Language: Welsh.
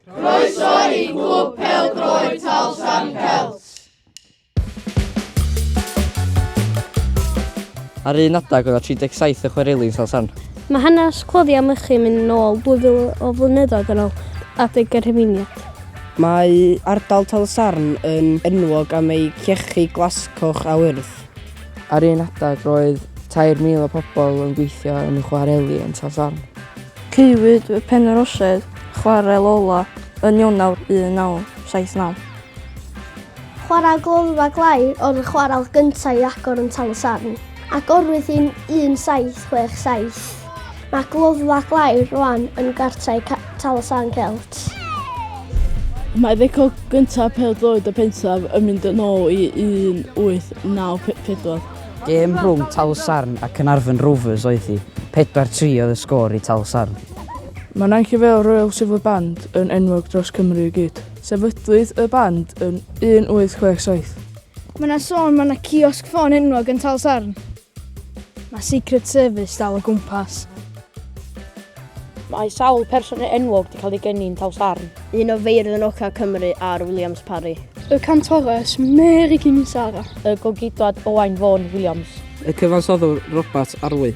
Croeso i Glwb Pêl-droed Talsan Celt! Ar un adeg oedd 37 o chwareli yn Salsan. Mae hanes cloddio mychu mynd yn ôl 2000 o flynyddoedd yn ôl adeg yr Rhufeiniaid. Mae ardal Talsarn yn enwog am ei llechi glascoch a wyrdd. Ar un adeg roedd 3,000 o pobl yn gweithio yn y chwareli yn Talsarn. Caewyd fy Penyrosseg, chwarel ola, yn Ionawr 1979. Chwarae gloddfa glai oedd y chwarel gyntaf i agor yn Tal-y-sarn. Agorwyd yn 1767. Mae gloddfa glai rwan yn gartrau Tal-y-sarn Celt. Mae record gyntaf pêl-droed y pentref yn mynd yn ôl i 1894. Gêm rhwng Talsarn a Caernarfon Rovers oedd hi, 4-3 oedd y sgôr i Talsarn. Mae Nain Cyfeil Royal Civil Band yn enwog dros Cymru i gyd. Sefydlwyd y band yn 1867. Mae yna sôn mae yna ciosg ffôn enwog yn Talsarn. Mae Secret Service dal o gwmpas. Mae sawl person enwog wedi cael ei geni'n Tawsarn. Un o feirdd yn Oca Cymru ar Williams Parry. Y cantores Mary Kimisara. Y gogidwad Owain Vaughan Williams. Y cyfansoddwr Robert Arwy.